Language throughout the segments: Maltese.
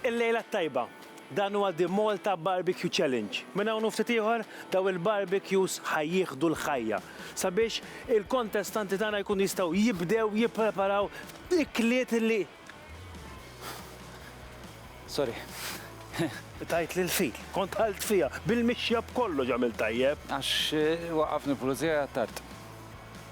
Il-lejla t-tajba. Dan huwa The Malta Barbecue Challenge. Minn hawn u ftit ieħor, dawn il-barbecues ħa jieħdu l-ħajja sabiex il-kontestanti tagħna jkunu jistgħu jibdew jippreparaw ikliet li Sorry. tajt lil fil, kont ħalt fiha bil-mixja b'kollox għamil tajjeb. Għax eh, waqafni pulizija tard.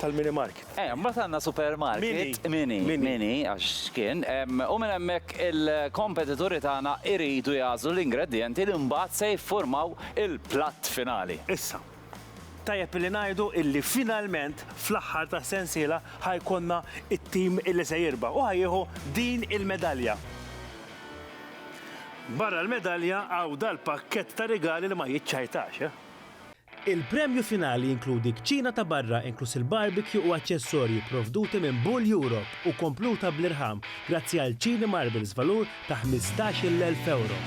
tal-mini market. Ejja, mbagħad għandna supermarket, mini, mini għax kien, u minn hemmhekk il-kompetituri tagħna jridu jagħżlu l-ingredjenti li mbagħad se jiffurmaw il-platt finali. Issa, tajjeb illi ngħidu illi finalment fl-aħħar tas-sensiela ħa jkollna t-tim illi se jirbaħ u ħa jieħu din il-medalja. Barra l-medalja hawn dal-pakkett ta' rigali li ma jiċċajtax, eh! Il-premju finali jinkludi kċina ta' barra inkluż il-barbecue u aċċessorji pprovduti minn Bull Europe u kompluta bl-irħam grazzi għal Chini Marbles valur ta' ħmistax-il elf ewro.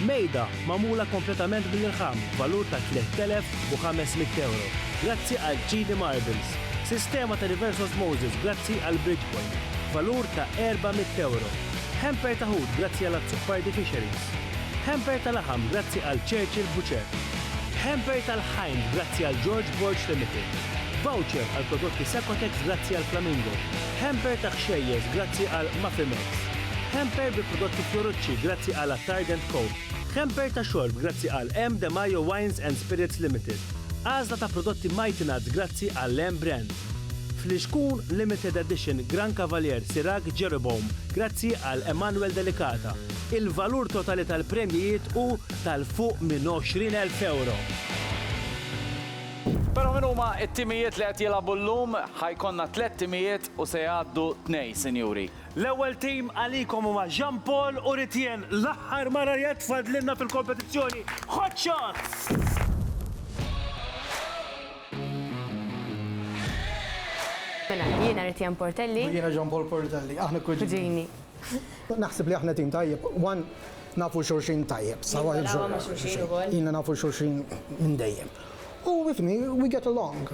Mejda magħmula kompletament bl-irħam b'valur ta' tliet elef u ħames mitt ewro grazzi għal Chini Marbles. Sistema ta' reverse osmosis grazzi għal Bridgepoint b'valur ta' erba' mitt ewro. Hamper ta' ħut grazzi għal Azzopardi Fisheries. Hamper ta' laħam grazzi għal Churchill Butcher. Hamper tal-Ħajn grazzi għal George Borg Limited. Voucher għal prodotti Secotex grazzi għal Flamingo. Hamper ta' ħxejjeż grazzi għal Mafimex. Hamper bi prodotti Fiorucci grazzi għal Attard and Co. Hamper ta' xorb grazzi għal M. De Majo Wines and Spirits Limited. Għażla ta' prodotti Mighty Nuts grazzi għal M. Brands. Flixkun Limited Edition Gran Cavalier Sirach Jeroboam grazzi għal Emanuel Delicata. Il-valur totali tal-premjijiet hu tal-fuq minn 20,000 ewro. Però min huma t-timijiet li qed jilagħbu llum? Ħa jkollna tliet timijiet u se jgħaddu tnej, sinjuri. L-ewwel tim għalikom huma Jean Paul u Ritienne, l-aħħar mara li qed tfadlilna fil-kompetizzjoni. Hot Shots! Mela, jiena Ritienne Portelli. U jiena Jean Paul Portelli. Aħna kuġini. Kuġini. Naħseb li aħna tim tajjeb, one, nafu xulxin tajjeb. Nilgħu ma' xulxin ukoll. Ilna nafu xulxin minn dejjem. U ifhimni, we get along.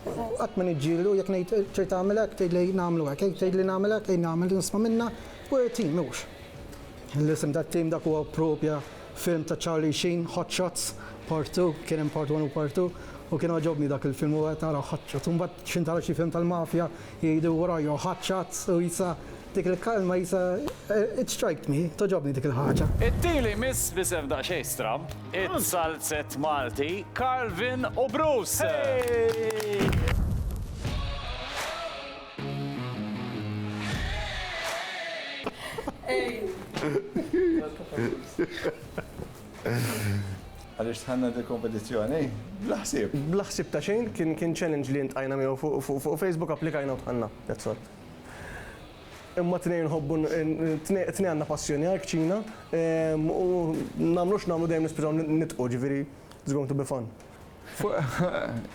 Qatt ma niġġieldu, jekk ngħid trid tagħmel hekk, tgħidli nagħmlu hekk, jekk tgħidli nagħmel hekk, ejja nagħmel, nisma' minnha, we're a team, hux? L-isem tat-tim dak huwa proprja film ta' Charlie Sheen, Hot Shots, Part Two, kien hemm Part One u Part Two, u kien għoġobni dak il-film, u qed nara Hot Shots, u mbagħad x'intgħala xi film tal-mafja, Jgħidu wara Joe Ħaċċat u Isa, dik il-kalma Isa, it striked me, togħġobni dik il-ħaġa. It-tieli miss b'isem daqsxejn stramb, it-salzett Malti, Carlvin u Bruce. Għaliex tħanna di kompetizzjoni? Bla ħsieb. Bla ħsieb ta' xejn, kien challenge li intqajna miegħu fuq Facebook, applikajna u tħanna. That's all. Imma tnej nħobbu, tnej għandna passjoni għal kċina, ehm, u nagħmlux nagħmlu dejjem nispiżaw nitqu, ġifieri it's going to be fun.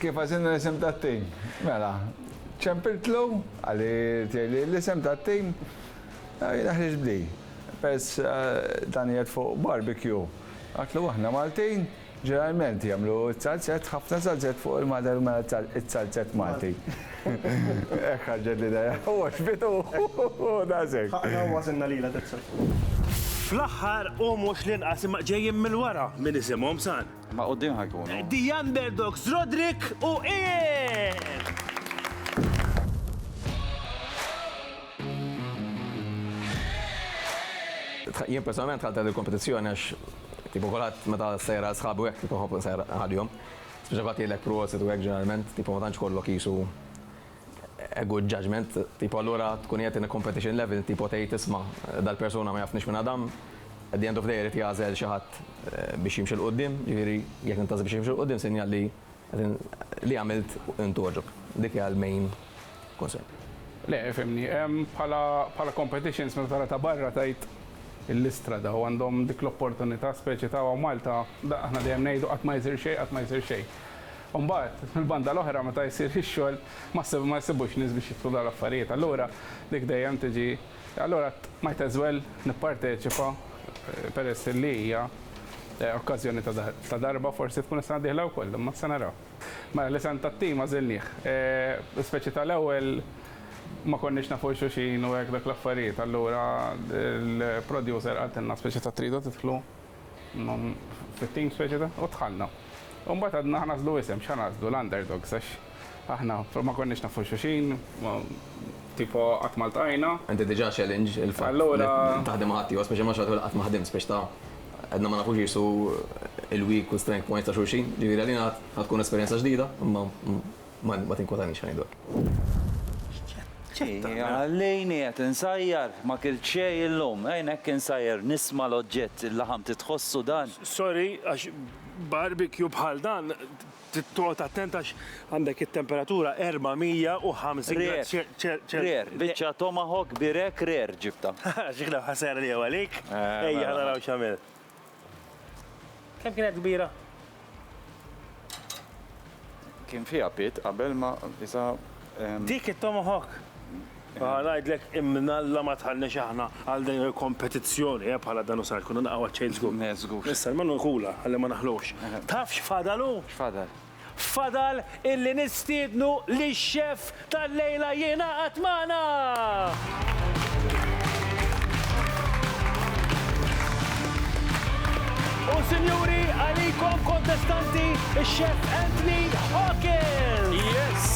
Kif għażilna l-isem tat-tim? Mela, ċempiltlu, qali tiegħi li l-isem tat-tim jiena ħriġt b'di, peress dan qiegħed fuq barbecue. Għidtlu aħna Maltin ġeneralment jagħmlu s-salzett, ħafna salzett fuq il-madar mela s-salzett Malti. Hekk ħarġet l-idea. U għoġbitu u daqshekk. Ħaqna u għażilna lilha daqshekk. Fl-aħħar u mhux l-inqas imma ġejjin mill-wara min isimhom sar. Ma' quddiem ħa jkunu. The Underdogs Roderick u Ian! Jien personalment dħalt għal il-kompetizzjoni għax tipo kulħadd meta ssejjer għal sħabi u hekk tipo nħobb insejjer għalihom. Speċi kulħadd jgħidlek prosit u hekk ġeneralment, tipo ma tantx kollok qisu a good judgement, tipo allura tkun qiegħed in a competition level, tipo tgħid isma' dal-persuna ma jafnix minn Adam, at the end of the day irid jagħżel xi ħadd biex jimxi 'l quddiem, jiġifieri jekk intażel biex jimxi 'l quddiem sinjal li li għamilt int għoġbok. Dik hija l-main concern. Le, fhimni, bħala bħala competitions meta tara ta' barra tgħid il-Istra daw għandhom dik l-opportunità speċi ta' Malta, aħna dejjem ngħidu qatt ma jsir xejn, qatt ma jsir xejn. U mbagħad, mill-banda l-oħra, meta jsir xi xogħol, ma ssib, ma jsibux nies biex jidħlu dawn l-affarijiet. Allura dik dejjem tiġi, allura might as well nipparteċipa peress li hija okkażjoni ta' ta' darba, forsi tkun is-sena d-dieħla wkoll, imma se naraw. Mela, l-isem tat-tim għażilnih. Speċi ta' l-ewwel ma konniex nafu lil xulxin u hekk dak l-affarijiet, allura l-producer qaltilna speċi ta' tridu tidħlu? Fit-team speċi ta' u dħalna. U mbagħad għadna ħanażlu isem, x'ħanażlu l-underdogs għax aħna ma konniex nafu xulxin, tipo qatt ma ltqajna. Inti diġà challenge il-fatt li taħdem ma' ħaddieħor, speċi ma' xagħtu li qatt ma ħdimt, speċi ta' għedna ma nafux qisu il-weak u strength points ta' xulxin. Ġifieri għalina ħatkun esperjenza ġdida, imma. Ma tinkwotanix ħa ngħidlek. Ħallini qed insajjar, ma kilt xejn illum. Għajn hekk insajjar nisma' l-oġġett, il-laħam titħossu dan. Sorry għax barbecue bħal dan trid toqgħod attent għax għandek it-temperatura 450 grad ċelsius. Rare, biċċa tomahawk birek rare ġibtha. Ġiegħna ħa sejra lejha għalik. Ejja ħa naraw x'għamilt. Kemm kienet kbira? Kien fiha pit qabel ma isa. Dik it-tomahawk! Aha, ngħidlek imnalla ma tħallniex aħna għal din il-kompetizzjoni, eh, bħala dan u sar, konna naqgħu għaċ-ċejn żgur. Le, żgur. Issa, l-menu jkula, ħalli ma naħlux. Taf x'fadalu? X'fadal? Fadal illi nistiednu lix-xef tal-lejla jingħaqad magħna! U sinjuri, għalikom kontestanti, ix-xef Anthony Hawkins! Yes!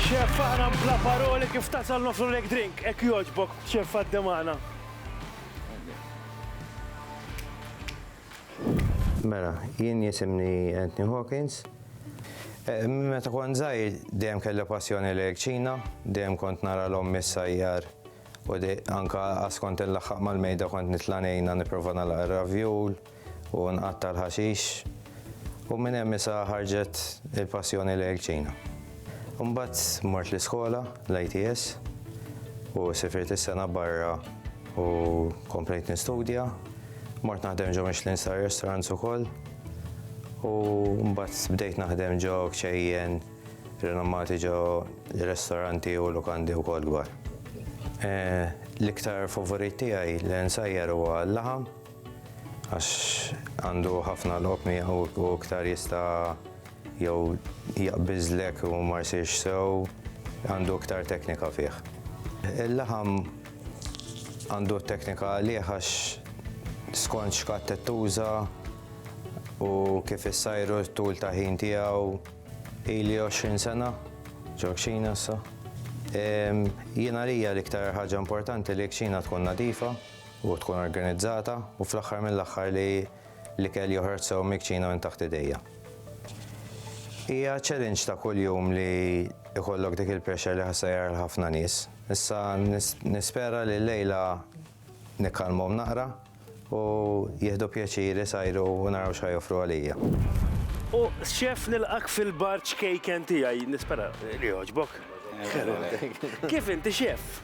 Xef, aħna bla paroli kif tasal nofrulek drink, hekk jogħġbok, xef għaddi magħna. Mela, jien jisimni Anthony Hawkins. Eh, meta kont żgħir dejjem kelli passjoni lejn ċina, dejjem kont nara l-ommi s-sajjar u anka askont il-laħħaq mal-mejda kont nitla' ngħinha nipprova nagħlaq ir-ravjul u nqatta' l-ħaxix. U minn hemm isa ħarġet il-passjoni lejn ċina. Imbagħad mort l-iskola, l-ITS, u sifirt is-sena barra U komplejt nistudja, mort naħdem ġo Michelin Star Restaurants ukoll. U mbagħad bdejt naħdem ġo kċejjen rinommati ġo ristoranti u lukandi wkoll dwar. Eh, l-iktar favorit tiegħi li nsajjar huwa l-laħam għax għandu ħafna l-oqmi u iktar jista' Jew jaqbiżlek u ma jsirx sew, għandu iktar teknika fih. Il-laħam għandu t-teknika għalih għax skont x'katt qed tuża u kif issajru t-tul ta' ħin tiegħu ili 20 sena ġo kxina issa. Jiena għalija l-iktar ħaġa importanti li kxina tkun nadifa u tkun organizzata u fl-aħħar mill-aħħar li L-ikel joħroġ sew mikċin u minn taħt idejja. Hija challenge ta' kuljum li jkollok dik il-pressure li ħassajjar l-ħafna nies. Issa nispera li l-lejla nikkalmhom naqra u jieħdu pjaċir isajru u naraw x'ħa joffru għalija. U chef nilqgħek fil-bar ċkejken tiegħi, nispera li jogħġbok. Kif inti chef?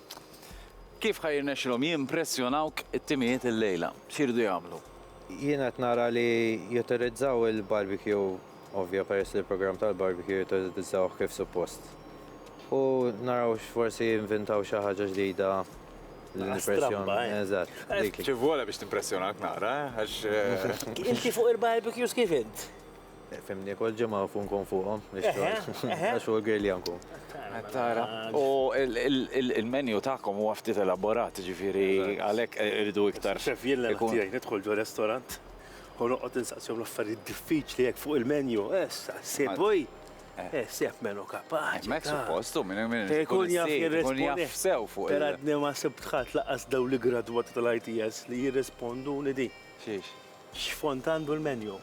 Kif ħa jirnexxilhom jimpressjonawk it-timijiet illejla? X'iridu jagħmlu? Jiena qed nara li jutilizzaw il-barbecue, ovvja peress li l-programm tal-barbecue jutilizzaw kif suppost. U naraw x'forsi jinvintaw xi ħaġa ġdida li nimpressjon. Eżatt. Dik hi. Xi vwola biex timpressjonak nara, eh? Għax. Inti fuq il-barbecues kif int? Fimni, kol ġimgħa fu nkun fuqhom. Għax hu l-girlja nkun. Tara. U il-menu tagħkom huwa ftit elaborat, ġifieri għalhekk irridu iktar. Xef, jien l-għan tiegħi nidħol ġo restorant u noqgħod insaqsihom l-affarijiet diffiċli hekk fuq il-menu. Issa, ssib wi. Ssib menu kapaċi. Hemmhekk suppost hu minn hemm. Ikun jaf jirrispondi. Ikun jaf sew fuq il-. Peradni ma sibt ħadd lanqas dawn l-iggradwati tal-ITS li jirrisponduni din. Xiex? X'fond għandu l-menju?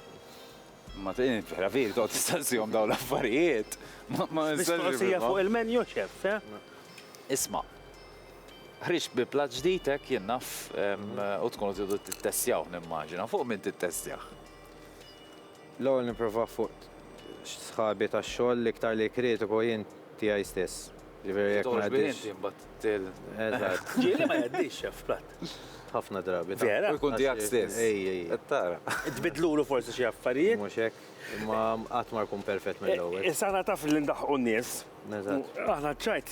Ma ġifieri toqgħod tistaqsihom dawn l-affarijiet? Mistoqsija fuq il-menju, Chef, eh? Isma', ħriġt bi plat ġdid hekk jien naf u tkunu tridu tittestjawh nimmaġina. Fuq min tittestjah? L-ewwel nipprova fuq sħabi tax-xogħol l-iktar li kritiku jien tiegħi stess. Jiġifieri jekk ma jgħaddix. Titgħoġ bih inti mbagħad til. Eżatt. Ġieli ma jgħaddix x'af platt. Ħafna drabi. Vera? U jkun tiegħek stess. Ej, ej. Qed tara. Tbiddlulu forsi xi affarijiet. Mhux hekk. Imma qatt ma jkun perfett mill-ewwel. Issa aħna taf li ndaħħqu n-nies. Eżatt. Aħna ċ-ċajt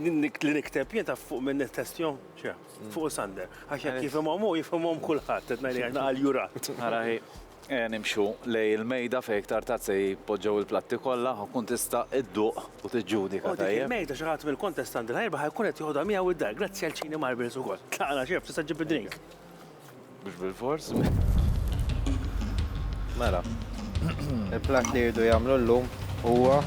li nikteb jien taf fuq min nittestjhom? X'af. Fuq Sander. Għax jekk jifhimhom hu jifhimhom kulħadd qed ngħidlek għax naqa' l-jurat. Ara hi. Ejja nimxu lejn il-mejda fejn iktar tard se jitpoġġew il-platti kollha u tkun tista' idduq u tiġġudika, tajjeb? U dik il-mejda xi ħadd mill-kontestant li ħa jirbaħ ikun qed joħodha miegħu d-dar, grazzi għal Chini Marbles ukoll. Tlaqna, x'hekk tista' ġġib id-drink? Mhux bilfors. Mela, il-platt li jridu jagħmlu llum huwa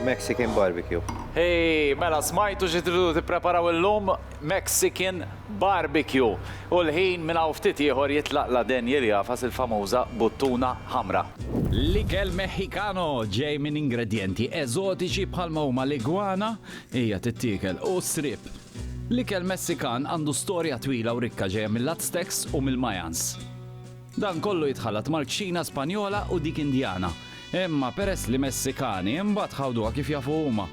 Mexican barbecue. Hey, mela smajtu xi tridu tippreparaw illum? Mexican. Barbecue, u l-ħin minn hawn ftit ieħor jitlaq la Daniel jagħfas il-famuża buttuna ħamra. L-ikel Meħikano ġej minn ingredjenti eżotiċi bħalma huma l-igwana, hija tittiekel, u s-sriep. L-ikel Messikan għandu storja twila u rikka ġejja mill-Aztecs u mill-Mayans. Dan kollu jitħallat mal-kċina Spanjola u dik Indjana, imma peress li Messikani imbagħad ħawduha kif jafu huma.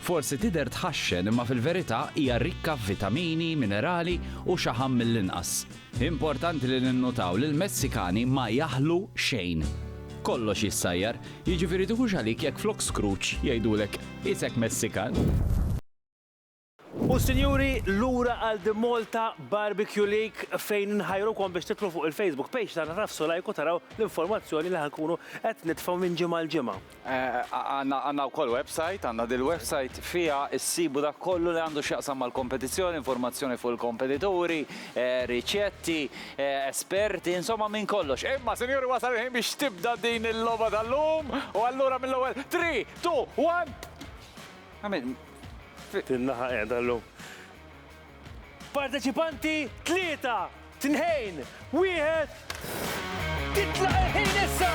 Forsi tidher tħaxxen imma fil-verità hija rikka f'vitamini, minerali u xaħam mill-inqas. Importanti li ninnutaw li l-Messikani ma jaħlu xejn. Kollox jissajjar, jiġifieri tiħux għalik jekk flok Scrooge jgħidulek Isek Messikan? U sinjuri, lura għal The Malta Barbecue League fejn inħajrukom biex tidħlu fuq il-Facebook page tagħna tagħfsu like u taraw l-informazzjoni li ħa nkunu qed nitfgħu minn ġimgħa għal ġimgħa. Għandna wkoll website, għandna dil-website fiha ssibu dak kollu li għandu x'jaqsam mal-kompetizzjoni, informazzjoni fuq il-kompetituri, riċetti, esperti, insomma minn kollox. Imma, sinjuri, wasal il-ħin biex tibda din il-logħba tal-lum u allura mill-ewwel three, two, one! Għamilt. F'din-naħa qiegħda llum. Parteċipanti tlieta, tnejn, wieħed, titlaq il-ħin issa!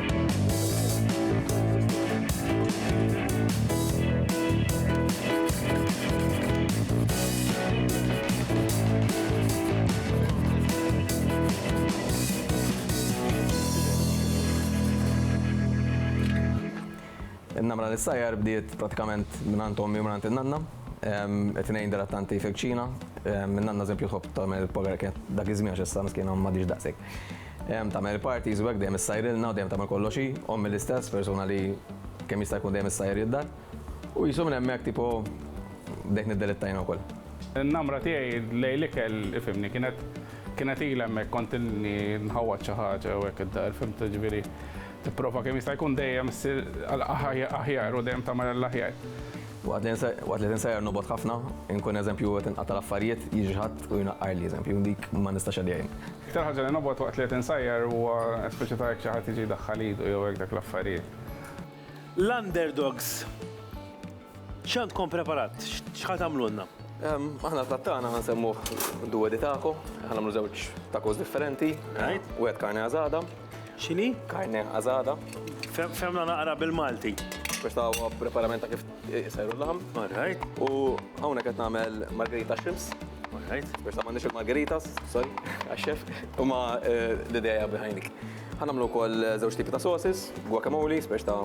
In-namra li ssajjar bdiet prattikament mingħand ommi u mingħand in-nanna. It-tnejn dilettanti fil-kċina. In-nanna eżempju tħobb tagħmel il-pogarekett dak iż-żmien għax issa miskiena m'għadhiex daqshekk. Em, tagħmel party żwek dejjem issajrilna u dejjem tagħmel kollox hi, ommi l-istess persuna li kemm jista' jkun dejjem issajr id-dar. U jisu minn hemmhekk tipo bdejt niddelittajna wkoll. Namra tiegħi lejl ikel ifimni kienet kienet ilha hemmhekk kont inni nħawwad xi ħaġa u hekk id-dar fimt ġifieri tipprova kemm jista' jkun dejjem ssir aħjar u dejjem tagħmel l-aħjar. Waqt li tinsajjar nobgħod ħafna, inkun eżempju qed inqata' l-affarijiet, jiġi xi ħadd u jnaqqarli eżempju dik ma nistax għaliha jien. Iktar ħaġa li nobgħod waqt li qed insajjar huwa speċi ta' jekk xi ħadd jiġi jdaħħal idu jew hekk dak l-affarijiet. L-underdogs, x'għandkom preparat? X'ħa tagħmlulna? Aħna l-platt tagħna ħa nsemmuh Due di Taco. Ħa nagħmlu żewġ tacos differenti. Wieħed carne asada. X'inhi? Carne asada. Fehmna naqra bil-Malti. Biex tagħmlu preparament ta' kif Isajru l-laħam. All right. U hawnhekk qed nagħmel margarita shrimps. All right. Persa m'għandniex il-margaritas, sorry, għax-chef. Huma eh, l-idea behind it. Ħanamlu wkoll eh, żewġ tipi ta' sauces, guacamole, speċ ta'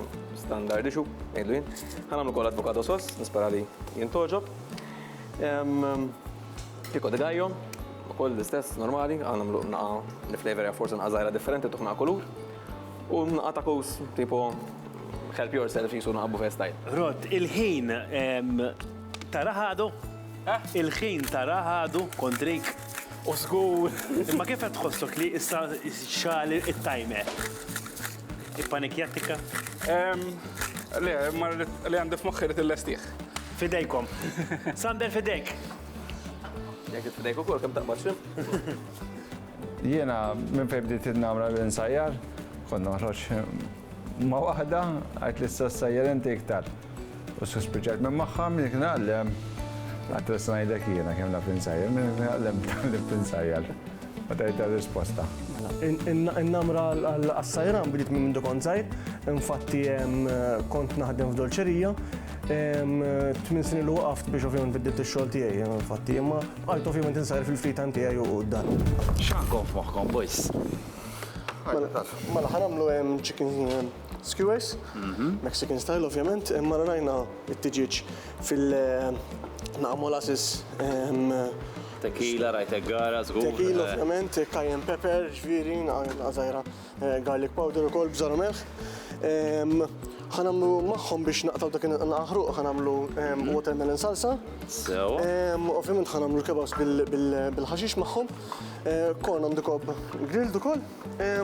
standard issue, ngħidlu jien. Ħanamlu wkoll avocado sauce, nispera li jien toġob. Em, Pico de gallo, ukoll l-istess normali, għanamlu naqa l-flavor ja forsi naqa żgħira differenti tuħna kulur. U naqqa ta' kus, tipo, help yourself jisu naqqa buffet style. Rod, il-ħin ta' raħadu? Eh? Il-ħin ta' raħadu kontrik? U zgur. Imma kif qed tħossok li issa xal it-timer? Ippanikjat tikka? Le, ma li għandi f'moħħi li tillestiħ. Fidejkom. Sander fidejk. Jek fidejk ukoll kemm taqbad xim? Jiena minn fejn bdiet nagħmla l-insajjar, kont noħroġ ma' waħda għajt li s-sajjar inti iktar. U suspiċajt minn magħha minn kien għallem. Għatret ngħidlek jiena kemm naf insajjar, minn kien għallem tgħallem tinsajjar. U tajt risposta. In-namra għas-sajran bdiet minn mindu kont żgħir, infatti kont naħdem f'dolċerija. Tmien snin ilu waqaft biex ovvjament biddelt ix-xogħol tiegħi, infatti, imma Art ovvjament insajr fil-free time tiegħi u dan. X'għandkom f'moħħkom, boys? Mela, mela ħanamlu chicken skewers, mhm. Mexican style ovvjament, imma rajna it-tiġiġ fil-naqa molasses. Tequila, rajt gara, zgur. Tequila eh. ovvjament, cayenne pepper, ġviri, għazajra. Garlic powder ukoll bżar u melħ. Ħa nagħmlu magħhom biex naqtaw dak il-aħruq, ħa nagħmlu watermelon salsa. Sew. Ovvjament ħa nagħmlu l-kebabs bil-ħaxix magħhom. Corn on the cob grilled ukoll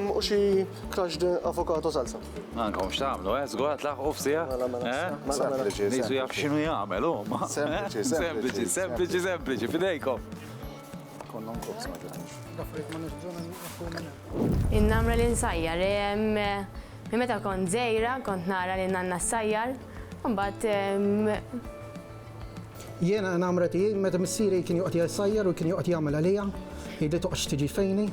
u xi crushed avocado salsa. Anka mhux tagħmlu, eh? Żgur tlaħqu f'sija. Mela, mela, eh? mela, mela. Nisu jaf x'inhu jagħmel huma. Sempliċi, sempliċi, sempliċi, sempliċi, fidejkom. In-namra li nsajjar, minn meta kont żgħira kont nara lil nanna ssajjar, imbagħad. Jiena n-namra tiegħi meta missieri kien joqgħod jsajjar u kien joqgħod jagħmel għalija, jgħidli toqgħodx tiġi fejni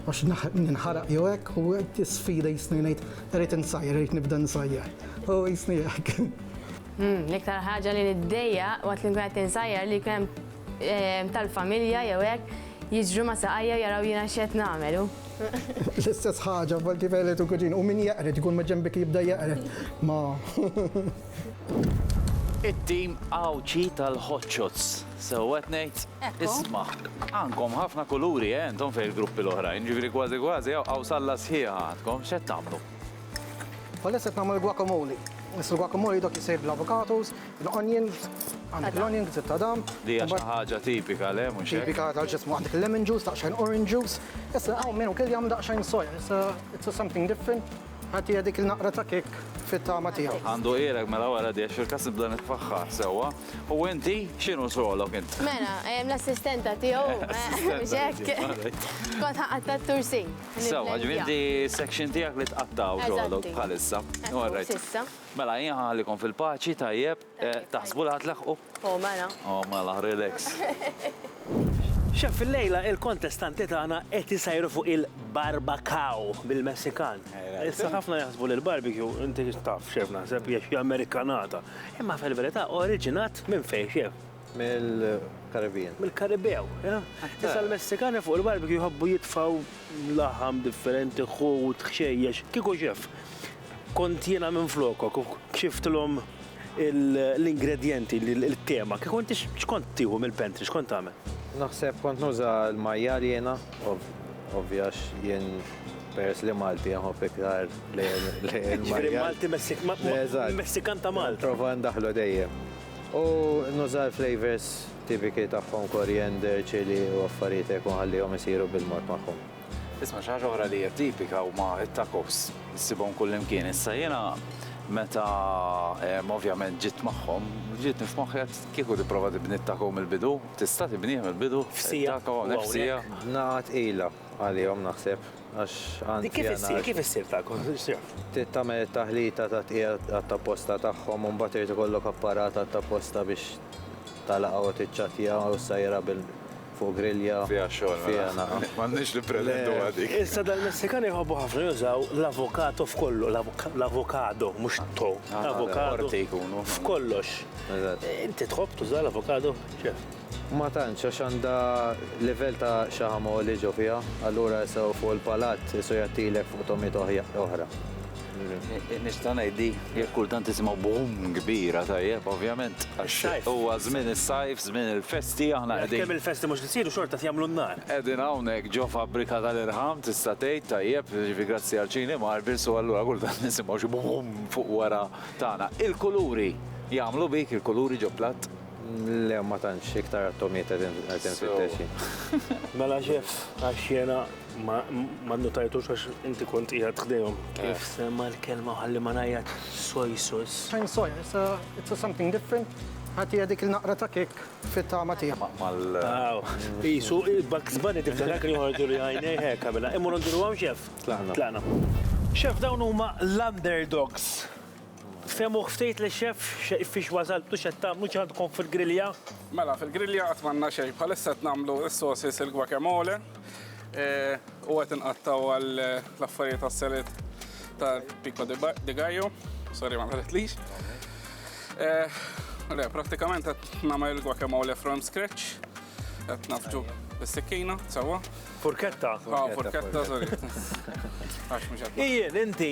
għax ninħaraq jew hekk u tisfida jisni ngħid irrid insajjar, irrid nibda nsajjar. U jisni hekk. L-iktar ħaġa li niddejjaq waqt li nkun qed insajjar li kien hemm tal-familja jew hekk jiġru ma' saqajja u jaraw jiena x'qed nagħmel u. L-istess ħaġa volti fejlet u kuġin u min jaqred ikun ma' ġenbek jibda jaqred ma. It-tim Għawdxi tal-Hotshots. Sew qed ngħid? Isma', għandkom ħafna kuluri eh intom fejn il-gruppi l-oħrajn, ġifieri kważi kważi hawn qawsalla sħiħa għandkom, x'qed tagħmlu? Bħalissa qed nagħmlu l-guacamole. Is-guacamole dok isir bl-avocados, L-onions, għandek l-onions li tadam. Li hija xi ħaġa tipika le mhux hekk? Tipika tal ġismu għandek il-lemon juice, daqsxejn orange juice. Issa hawn min ukoll jagħmel daqsxejn soja, issa it's a something different. Ħadd hija dik il-naqra ta' kik fit-tama tiegħu. Għandu qiegħlek mela wara di għax fil-każ nibda nitfaħħar sewwa. U inti x'inhu xogħlok int? Mela, l-assistenta tiegħu mhux hekk. Kont ħaqatta' t-tursin. Sewwa, ġifieri inti section tiegħek li tqattgħu xogħlok bħalissa. All right. Mela jien ħallikom fil-paċi tajjeb, taħsbu li ħa tlaħħqu? O mela. O mela, relax. Chef illejla il-kontestanti tagħna qed isajru fuq il-barbacow bil-Messikan. Issa ħafna jaħsbu li l-barbecue inti taf chef naħseb hija xi Amerikanata. Imma fil-verità oriġinat minn fejn chef? Mill-Caribbean. Mill-Karibew, jah? Issa l-Messikani fuq il-barbecue jħobbu jitfgħu laħam differenti, ħut, ħxejjex. Kieku xef, kont jiena minflokok u kxiftilhom l-ingredjenti, il-kema, kieku inti x'kont tieħu mill-pantry, x'kont tagħmel? Naħseb kont nuża l-majjal jiena, ovvja għax jien peress li Malti nħobb iktar l-majjal. Jiġifieri Malti Messikan ta' Malta. Nipprova ndaħħlu dejjem. U nuża l-flavours tipiki tagħhom koriander, chili u affarijiet hekk u nħallihom isiru bil-mod magħhom. Isma' xi ħaġa oħra li hija tipika huma t-tacos. Issibhom kullimkien. Issa jiena meta ovvjament ġiet magħhom, ġietni f'moħħi għedt kieku tipprova tibni t-taco mill-bidu. Tista' tibnih mill-bidu? F'siegħa. Taco hawnhekk f'siegħa. B'nagħqa tqila għalihom naħseb. Għax anzi Kif issir, kif issir ta' Trid tagħmel it-taħlita ta' tqigħa għat-tapposta tagħhom u mbagħad irid ikollok apparat għat-tapposta biex tagħlaqha u tiċċattja u ssajjirha bil fuq grilja. Fiha xogħol mela. Fiha nagħam. M'għandniex nippretenduha dik. Issa dal-Messikani jħobbu ħafna jużaw l-avocado f'kollu, l-avocado, mhux to, avocado. Orti jkunu. F'kollox. Eżatt. Inti tħobb tuża l-avocado, chef? Ma tantx, għax għandha livell ta' xaħam għoli ġo fiha, allura issa hu fuq il-palat qisu jgħattilek fuq togħmiet oħra. Nista' ngħid li jekk kultant tisimgħu boom kbira tajjeb ovvjament għax huwa żmien is-sajf, żmien il-festi aħna qegħdin. Għalkemm il-festi mhux qed isiru xorta qed jagħmlu n-nar. Qegħdin hawnhekk ġo fabbrika tal-irħam tista' tgħid tajjeb, jiġifieri grazzi għal Cini Marbles u allura kultant nisimgħu xi boom fuq wara tagħna. Il-kuluri jagħmlu bik, il-kuluri ġo platt. Le, ma tantx, iktar għat-tomiet qed infittex jien. Mela xef, għax jiena ma nnutajtux għax inti kont qiegħed ħdejhom. Kif semma l-kelma ħalli ma ngħajjat soy sauce. Fine soy, it's a, it's a something different. Ħatija dik il-naqra ta' kik fit-tama tiegħek. Mal. Aw, isu il-Bugs Bunny tiftakar kien joħorġu li għajnej hekk għamilha. Immur nduru hawn xef. Tlaqna. Tlaqna. Xef dawn huma l-underdogs. Fehmuh ftit li chef fiex wasaltu x'qed tagħmlu x'għandkom fil-grilja? Mela fil-grilja qatt m'għandna xejn bħalissa qed nagħmlu s-sauces il-guacamole u qed inqattgħu għal l-affarijiet għas-salad tal-pico de gallo. Sorry ma nħaretlix. Le, prattikament qed nagħmel il-guacamole from scratch. Qed nafġu bis-sikkina, sewwa. Furketta? Ah, furketta, sorry. Għax mhux qed. Ijien, inti,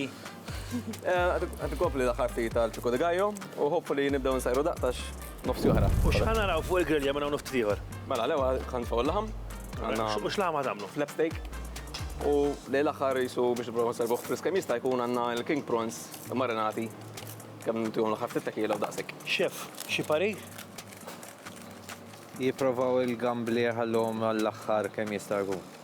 Għad kopli l-aħħar ftit tal ċuku de Gajo u hopfu li nibdew nsajru daqtax nofsi oħra. U x'ħana raw fuq il-grilja minn hawn nofti ieħor? Mela, l-ewa kan faw l-laħam. U x'laħam għadamlu? Flap steak. U li l-aħħar jisu biex nipprova nsarbuħ friskem jista' jkun għandna l-king prawns marinati kemm ntihom l-aħħar ftit tekiela u daqsek. Xef, xi pari? Jipprovaw il-gambli jħallhom għall-aħħar kemm jista' jkun.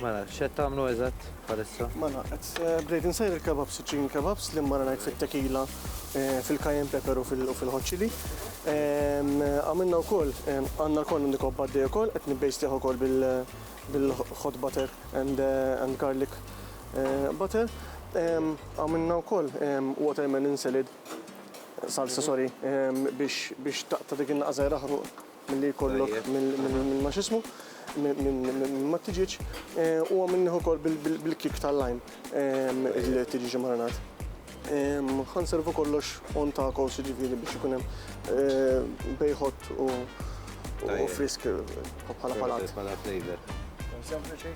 Mela, xed tagħmlu eżatt bħalissa? Mela, qed eh, bdejt insejr il-kebabs, iċ-chicken kebabs li mmara ngħid fit-tekila, eh, fil-kajen pepper u fil-hot chili. Ehm, għamilna wkoll ehm, għandna l-korn on the cob għaddej ukoll, qed nibbejstih ukoll bil-hot butter and eh, garlic butter. Ehm, għamilna wkoll watermelon salad salsa sorry biex taqta dik in-naqżajra Milli jkollok minn ma x'ismu, minn ma tiġiġ u minn nieħu kol bil-kik tal-lajm il-tiġiġ marinat. Ħanservu kollox on tacos ġifiri biex ikun hemm bejħot u frisk bħala palat. Bħala flavor. Sempliċi.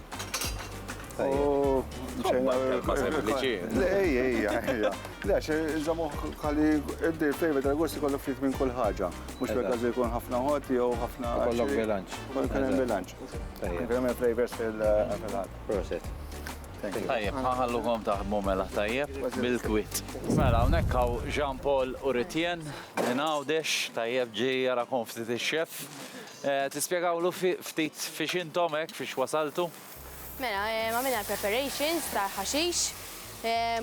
Sempliċi. Ej, ej, ej. Le, xe, zamu ħalli id-dir flavor tal-gost ikollu ftit minn kull ħaġa. Mhux fil-każ li jkun ħafna ħodd jew ħafna. Ikollok bilanċ. Ikun ikun hemm bilanċ. Ikun hemm il-flavors fil-ħadd. Proset. Tajjeb, ħallukom taħdmu mela tajjeb bil-kwit. Mela hawnhekk hawn Jean Paul u Ritjen minn Għawdex, tajjeb ġie jarakom ftit ix-chef. Tispjegawlu ftit fiex intom hekk fiex wasaltu? Mela għamilna l-preparations tal-ħaxix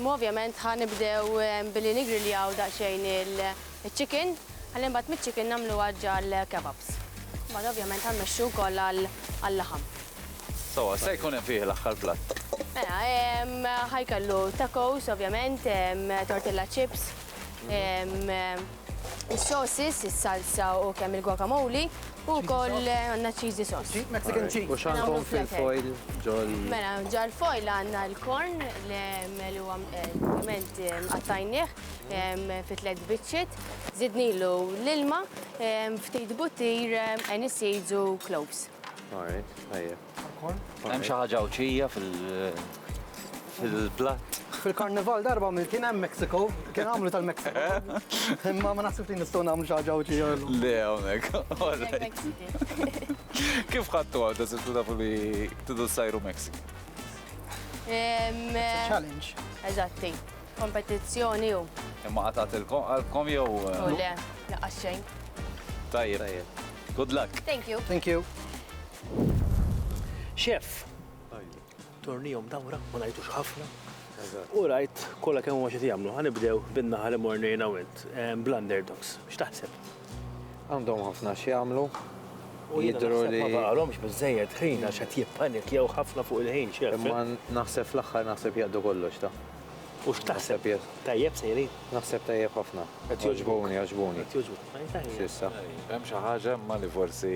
u ovvjament ħa nibdew billi niggriljaw daqsxejn il-chicken ħalli mbagħad miċ-chicken nagħmluha ġall-kebabs. Mbagħad ovvjament ħa mmexxu wkoll għal-laħam. Sewwa, x'se jkun hemm fih l-aħħar platt? Mela ħa jkollu tacos ovvjament, tortilla chips, Is-sosis, is-salsa u kemm il-guacamole u wkoll għandna cheesy sauce. Cheese, Mexican cheese. U x'għandkom fil-foil ġol? Mela, ġol foil għandna l-korn li huwa ovvjament qattajnieh fi tliet biċċiet, żidnilu l-ilma, ftit buttir, aniseeds u cloves. All right, tajjeb. Hemm xi ħaġa Għawdxija fil-platt. Fil-karnival darba mill kien hemm Mexico, kien għamlu tal-Mexico. Imma ma naħsibx li nistgħu nagħmlu xi ħaġa Għawdxija. Le hawnhekk. Kif ħadtu għadha sibtu tafu li tidu sajru Mexico? Challenge. Eżatti. Kompetizzjoni u. Imma għatat il-kom jew. Le, laqaxxejn. Tajjeb. Good luck. Thank you. Thank you. Xeff, tornihom dawra, ma ngħidux ħafna, u rajt kollha kemm huma x'qed jagħmlu. Ħa nibdew bin-naħa li morna jiena u int, bl-underdogs. X'taħseb? Għandhom ħafna x'jagħmlu. U jiena naħseb li ma baqgħalhomx biżżejjed ħin għax qed jippanikkjaw ħafna fuq il-ħin, Xeff. Imma naħseb fl-aħħar naħseb jaqdu kollox, ta. U x'taħseb? Tajjeb sejrin? Naħseb tajjeb ħafna. Qed jogħġbuni, għaġbuni. Qed jogħġbuk. S'issa. Hemm xi ħaġa imma li forsi.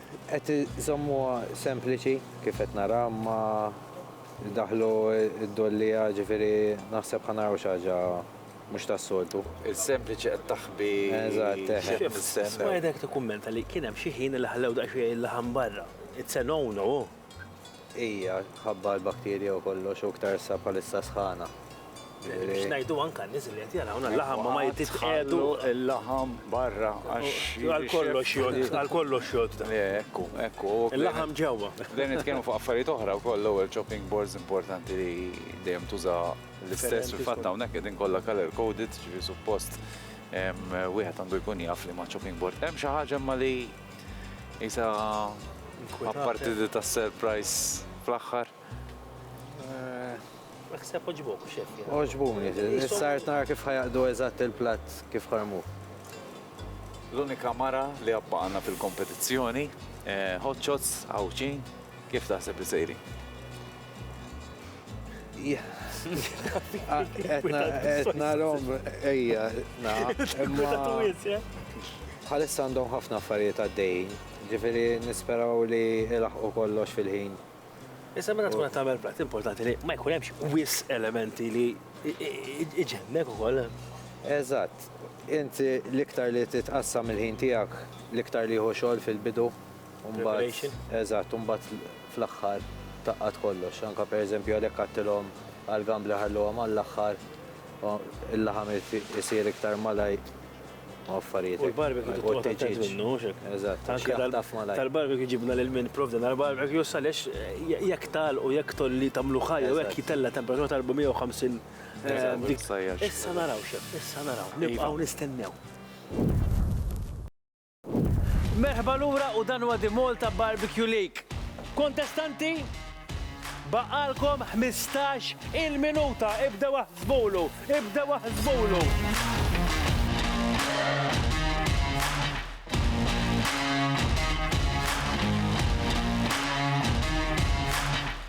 Qed iżommuha sempliċi kif qed nara imma daħlu d-dolliegħa ġifieri naħseb ħa naraw xi ħaġa mhux tas-soltu. Il-sempliċi qed taħbi x'hemm mistennew. Spider qed ikkummenta li kien hemm xi ħin li ħallew daqsxejn il-laħam barra. It's a no no. Hija mħabba għall-bakterja u kollox u iktar issa bħalissa sħana. Biex ngħidu anke għan-nies li qed jarawna l-laħam ma jitqiegħdu. Il-laħam barra għax. Għal kollox jgħodd, għal kollox jgħodd. Ekku, ekku. Il-laħam ġewwa. Dejjem nitkellmu fuq affarijiet oħra wkoll l-ewwel chopping boards importanti li dejjem tuża l-istess fil-fatt hawnhekk qegħdin kollha color coded, ġifieri suppost wieħed għandu jkun jaf li ma' chopping board. Hemm xi ħaġa imma li Isa apparti di ta' surprise fl-aħħar. Naħseb oġbok, xef. Oġbuni, sart nara kif ħajaqdu eżatt il-platt kif ħarmu. L-unika mara li għabba għanna fil-kompetizzjoni, eh, hot shots, għawċin, kif taħseb li sejri? Etna rom, ejja, na. Bħalissa għandhom ħafna affarijiet għaddejjin, ġifiri nisperaw li ilaħqu kollox fil-ħin. Issa meta tkun tagħmel plat importanti li ma jkun hemmx wis elementi li iġennek ukoll. Eżatt, inti l-iktar li titqassam il-ħin tiegħek, l-iktar li jħu xogħol fil-bidu. Imbagħad, eżatt, imbagħad fl-aħħar tgħaqqad kollox. Anke pereżempju għalhekk għadtilhom għall-gambler ħalluhom għall-aħħar, il-laħam isir iktar malajr u affarijiet hekk. U l-barbecue titqogħod attent minnu, mhux hekk? Eżatt, għax jaħtaf malajr. Tal-barbecue ġibna lil min ipprovdina l-barbecue għaliex jekk tagħlqu, jekk tolli tagħmlu ħaj jew hekk jitella' temperatura ta' 450 dik. Issa naraw, x'hemm, issa naraw. Nibqgħu nistennew. Merħba lura u dan huwa The Malta Barbecue League. Kontestanti, baqgħalkom ħmistax il minuta, ibdew aħsbulu, ibdew aħsbulu.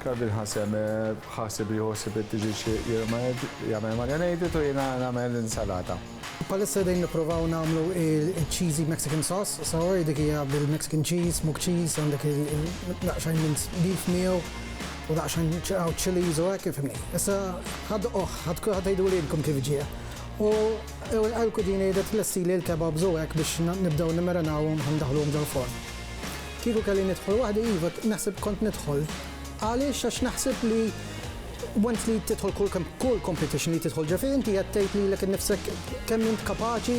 Calvin Hasem ħaseb li jħossib li t-tiġi xi jirmed jagħmel marinated u jiena nagħmel insalata. Bħalissa qegħdin nipprovaw nagħmlu il-cheesy Mexican sauce, so dik hija bil-Mexican cheese, smoked cheese, għandek daqsxejn minced beef miegħu u daqsxejn ċaqaw chilies u hekk, fimni. Issa ħadd oħ, ħadd kulħadd għiduli intom kif ġie. U l-kudini qiegħda tlessili l-kebabs u hekk biex nibdew nimmarinawhom ħa ndaħluhom ġol-forn. Kieku kelli nidħol waħdi, iva, naħseb kont nidħol. Għaliex? Għax naħseb li once li tidħol kull competition li tidħol ġefi, inti qed tgħid lilek innifsek kemm int kapaċi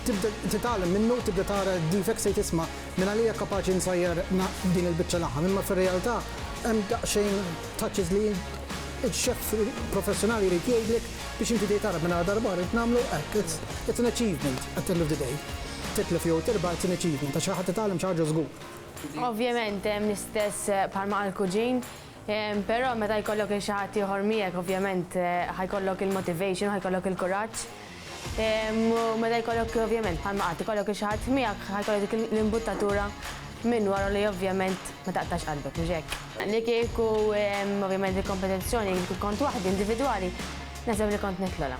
tibda titgħallem minnu, tibda tara d-defects tgħid isma' minn għalija kapaċi nsajjar din il-biċċa laħam. Imma fir-realtà hemm daqsxejn touches li x-chef professjonali jrid jgħidlek biex inti tgħid ara minn għada darba oħra rrid nagħmlu hekk. It's an achievement at the end of the day. Titlef jew tirbaħ it-tieni ċiklu ta' xi ħadd itgħallem xi ħaġa żgur. Ovvjament hemm l-istess bħalma qal kuġin, però meta jkollok lil xi ħadd ieħor miegħek ovvjament ħa jkollok il-motivation, ħa jkollok il-kuraġġ. U meta jkollok ovvjament bħalma qatt ikollok lil xi ħadd miegħek ħa jkollok dik l-imbuttatura minn wara li ovvjament ma taqtax qalbek, mhux hekk? Li kieku ovvjament il-kompetizzjoni kont waħdi individwali, naħseb li kont nitlgħolha.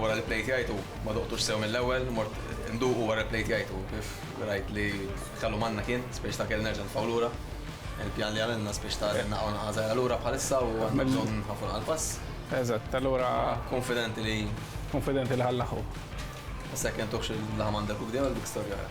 Wara li bdejt jgħid hu, ma duqtux sew mill-ewwel, mort induqu wara li bdejt jgħid hu kif rajt li kellu manna kien spiċċ ta' kelli nerġa' nitfgħu lura. Il-pjan li għamilna spiċċ ta' li naqgħu naqa' żgħira lura bħalissa u għandna bżonn nħaffu naqa' l-pass. Eżatt, allura. Kunfidenti li. Kunfidenti li ħa nlaħħqu. Issa jekk intuħx il-laħam għandek u bdejna dik storja oħra.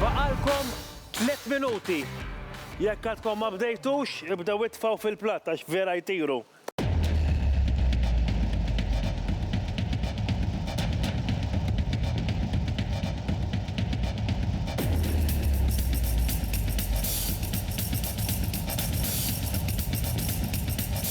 Baqalkom tliet minuti. Jekk għadkom ma bdejtux, ibdew itfgħu fil-platt għax vera jtiru.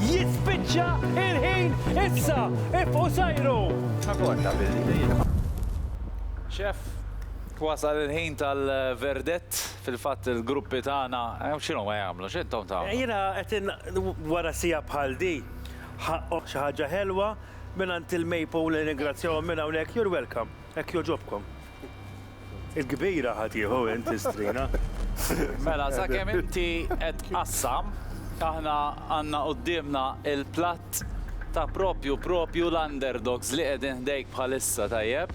Jispiċċa il-ħin issa! Ifqu sejru! Chef, wasal il-ħin tal-verdett. Fil-fatt il-gruppi tagħna x'inhuma jagħmlu? X'intom tagħmlu? Jiena qed wara siegħa bħal di ħaqqhom xi ħaġa ħelwa mingħand il-Maypole nirringrazzjahom minn hawnhekk. You're welcome. Hekk jogħġobkom. Il-kbira ħa tieħu int is-strina. Mela sakemm inti qed tqassam, aħna għandna quddiemna l-platt ta' propju propju l-underdogs li qegħdin ħdejk bħalissa, tajjeb?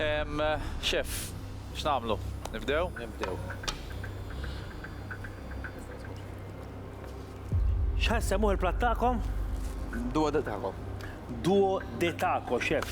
Ehm, Chef, x'nagħmlu? Nibdew? Nibdew. X'ħa jsemmuh il-platt tagħkom? Duo de taco. Duo de taco, Chef.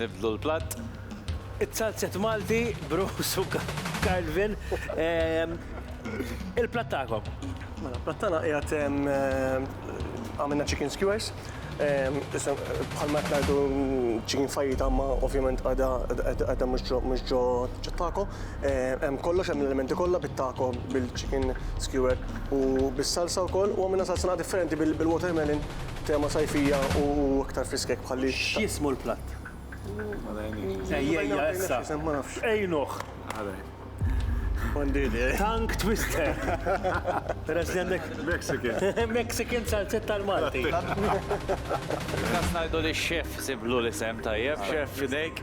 Nibdlu l-platt. It-salzett Malti Bruce u Carlvin. Il-platt tagħkom. Mela, l-platt tagħna qiegħed għamilna chicken skewers. Issa bħalma qed ngħidu chicken fajita imma ovvjament għadha mhux ġo taco. Hemm kollox, hemm l-elementi kollha bit-taco, bil-chicken skewer u bis-salsa wkoll. U għamilna salsa naqa' differenti bil-watermelon Tema sajfija u iktar friskek bħal li. X'jismu l-platt? Ejjejja issa. Għinuh! M'għandi idea. Tongue twister! Peress li għandek. Mexican. Mexican salsetta l-Malti. Inqas ngħidu li x-chef siblu l-isem tajjeb, Chef Fidejk.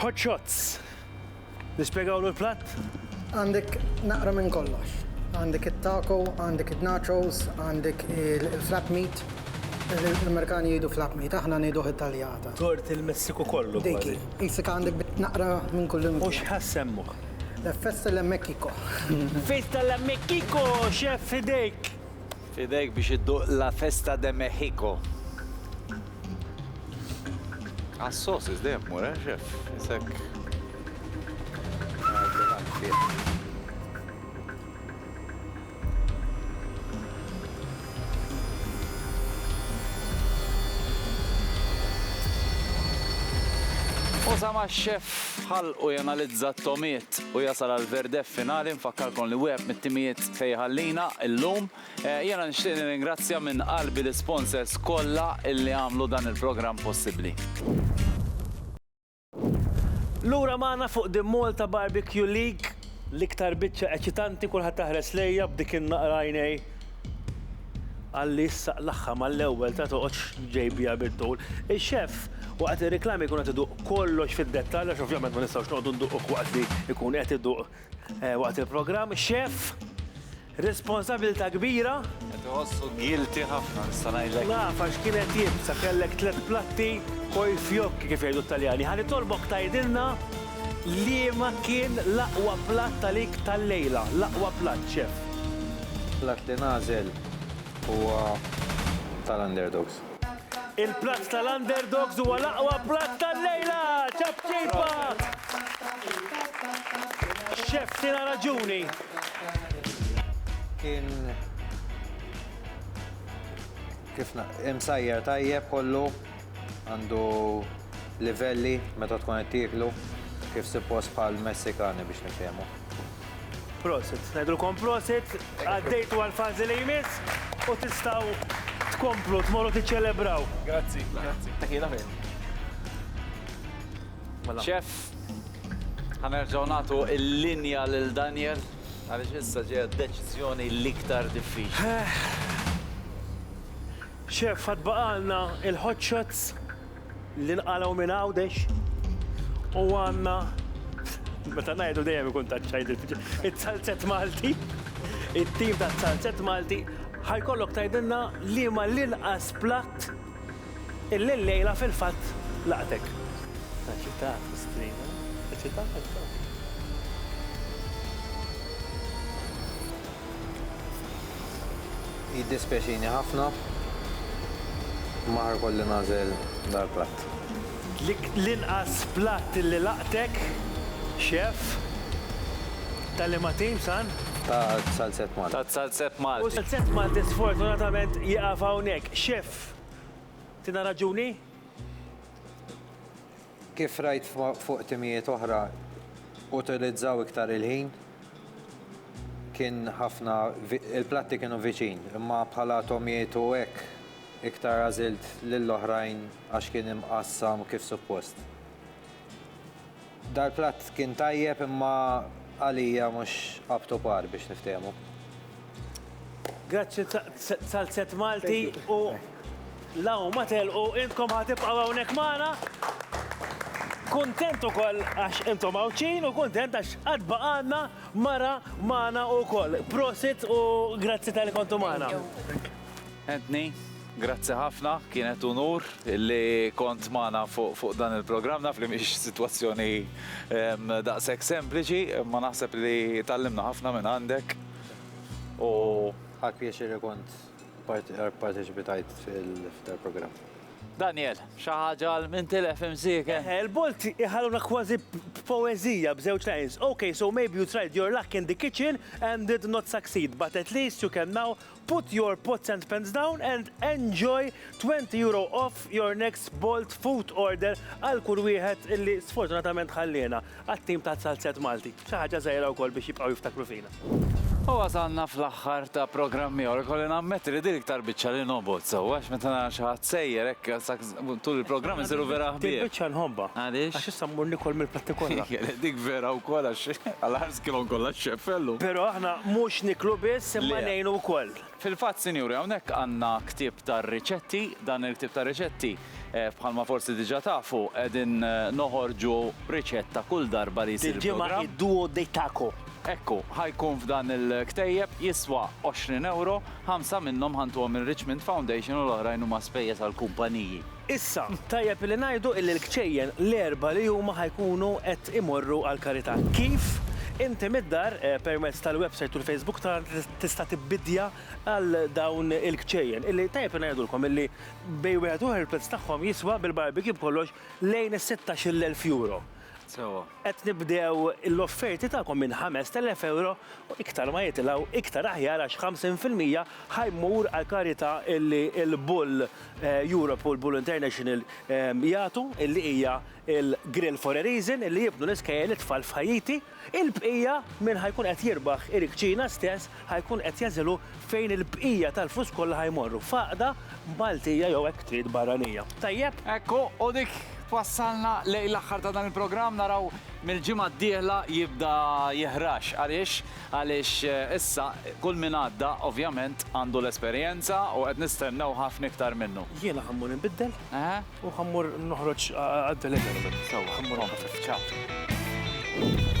Hot shots! Nispjegawlu l-platt? Għandek naqra minn kollox. Għandek it-taco, għandek in-nachos, għandek il-flap meat. L-Amerikani jgħidu flap meat, aħna ngħiduh it-taljata. Tort il-Messiku kollu kważi. Dik hi. Qisek għandek bit naqra minn kullimkien. U x'ħa ssemmuh? Festa la Mexico. Festa la Mexico, chef f'idejk! F'idejk biex idduq La Festa de Mexico. Għas-sosis dejjem tmur, eh, xef? Isek. Usa ma' xef ħalqu janalizza t-tomiet u jasal għal verdef finali nfakkarkom li wieħed mit-timijiet Se jħallina llum. Jiena nixtieq nirringrazzja minn qalbi l-isponsors kollha illi għamlu dan il-programm possibbli. Lura magħna fuq The Malta Barbecue League. L-iktar biċċa eċitanti kulħadd jaħres lejja b'dik in-naqra għajnej għalli issa qlagħha mal-ewwel ta' toqgħodx ġej biha bit-tul. Ix-xef waqt ir-riklami jkun qed iduq kollox fid-dettall għax ovvjament ma nistgħux noqogħdu nduqu waqt li jkun qed iduq Waqt il-programm, Chef, responsabilità kbira. Qed iħossu guilty ħafna nista' ngħidlek. Naf għax kien qed jibsa, kellek tliet platti coi fiocchi kif jgħidu t-Taljani. Ħa nitolbok tgħidilna liema kien l-aqwa platt għalik tal-lejla, l-aqwa platt, Chef. Platt li nagħżel huwa tal-underdogs. Il-platt tal-underdogs huwa l-aqwa platt tal-lejla! Ċapċipa! Chef tina raġuni. Kien kif imsajjar tajjeb kollu għandu livelli meta tkun qed tieklu kif suppost bħal Messikani biex nifhemu. Prosit, ngħidulkom prosit, għaddejtu għall-fażi li jmiss u tistgħu tkomplu tmorru tiċċelebraw. Grazzi, grazzi. Teħila fejn. Mela. Chef, ħanerġgħu nagħtu l-linja lil Daniel għaliex issa ġejja deċiżjoni l-iktar diffiċli. Eh. Chef, għad baqalna il-hot shots. li nqalgħu minn Għawdex u għandna meta ngħidu dejjem ikun ta' ċajdit. It-salzett Malti, it-tim ta' salzett Malti, ħajkollok tgħidilna li ma l-inqas platt il-lejla fil-fatt laqtek. Eċitat, miskina, eċitat. Jiddispjaċini ħafna, imma ħa jkolli nagħżel dal-platt. L-inqas platt li laqtek, Chef, ta' liema tim, San? Ta' Salzett Malti. Ta' Salzett Malti. U Salzett Malti sfortunatament jieqaf hawnhekk. Chef, tina raġuni? Kif rajt fuq timijiet oħra utilizzaw iktar il-ħin, kien ħafna, il-platti kienu viċin, imma bħala tomijiet u hekk iktar għażilt lill-oħrajn għax kien imqassam kif suppost. Dal-platt kien tajjeb imma għalija mhux up to par biex niftehmu. Grazzi tal-set Malti u law ma telqu intkom ħatibqaw hawnhekk magħna. Kuntent ukoll għax intom Għawdxin u kuntent għax qatt baqgħanna mara magħna ukoll. Prosit u grazzi tal-li kontu magħna. Anthony, grazzi ħafna, kienet unur li kont magħna fuq dan il-programm naf li mhix sitwazzjoni daqshekk sempliċi, ma naħseb li tallimna ħafna minn għandek. U ħadt pjaċir li kont parteċipitajt fil-programm. Daniel, xi ħaġa għal min tilef imsieken? Eħe, il-bolt iħalluna kważi b'poeżija b'żewġ lines. Ok, so maybe you tried your luck in the kitchen and did not succeed, but at least you can now put your pots and pans down and enjoy €20 off your next Bolt food order għal kull wieħed illi sfortunatament ħalliena. Għat-tim ta' Salzett Malti, xi ħaġa żgħira wkoll biex jibqgħu jiftakru fina. U wasalna fl-aħħar ta' programm ieħor. Ikolli nammetti li din l-iktar biċċa li nobgħod sewwa għax meta nara xi ħadd sejjer hekk tul il-programm insiru vera ħbieb. Din il-biċċa nħobbha. Għaliex? Għax issa mmur niekol mill-platti kollha. Dik vera wkoll għax għall-aħħar skilhom kollha x-xeffellu. Però aħna mhux niklu biss imma ngħinu wkoll. Fil-fatt, sinjuri, hawnhekk għandna ktieb ta' riċetti. Dan il-ktieb ta' riċetti, bħalma forsi diġà tafu, qegħdin noħorġu riċetta kull darba li jsir il-programm. Dil-ġimgħa id-duo de taco. Ekku, ħa jkun f'dan il-ktejjeb, jiswa għoxrin ewro, ħamsa minnhom ħa ntuhom ir-Richmond Foundation u l-oħrajn huma spejjeż għall-kumpaniji. Issa, tajjeb li ngħidu illi l-kċejjen l-erbgħa li huma ħa jkunu qed imorru għall-karità. Kif? Inti mid-dar, permezz tal-websajt u l-Facebook tagħna tista' tibbidja għal dawn il-kċejjen illi tajjeb li ngħidulkom illi bejn wieħed u ieħor il-prezz tagħhom jiswa bil-barbecue b'kollox lejn is-sittax-il elf euro. Sewwa. Qed nibdew l-offerti tagħkom minn ħamest elef euro u iktar ma jitilgħu iktar aħjar għax ħamsin fil-mija ħa jmur għall-karità illi l-Bull Europe u l-Bull International jagħtu li hija l-Grill for a Reason li jibnu l-iskejjel it-tfal f'Ħaiti. Il-bqija min ħa jkun qed jirbaħ il-kċina stess ħa jkun qed jagħżilhu fejn il-bqija tal-flus kollha ħa jmorru, f'għaqda Maltija jew hekk trid barranija. Tajjeb? Hekk hu, u dik twassalna lejn l-aħħar ta' dan il-programm, naraw mill-ġimgħa d-dieħla jibda jihrax. Għaliex? Għaliex issa kull min għadda ovvjament għandu l-esperjenza u qed nistennew ħafna iktar minnu. Jiena ħa mmur inbiddel u ħa mmur noħroġ għad-delivery. Sewwa, kompli. Ciao.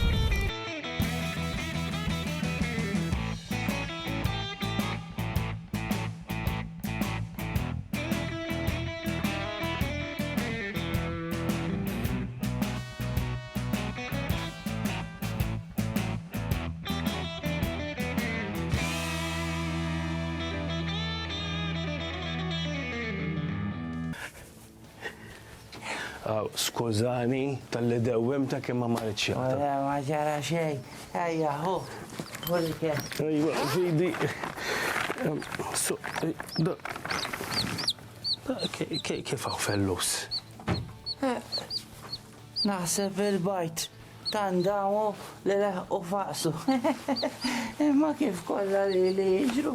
Skużani, tal-li dewwim ta' kemm ma marriċ. Ma ġara xej, ejja, hu, hu li kien. Ejwa, zidi. Kif għaw fellus? Naħseb il-bgħid ta' ndamu li leħqu faqsu. Imma kif kollha lili jiġru.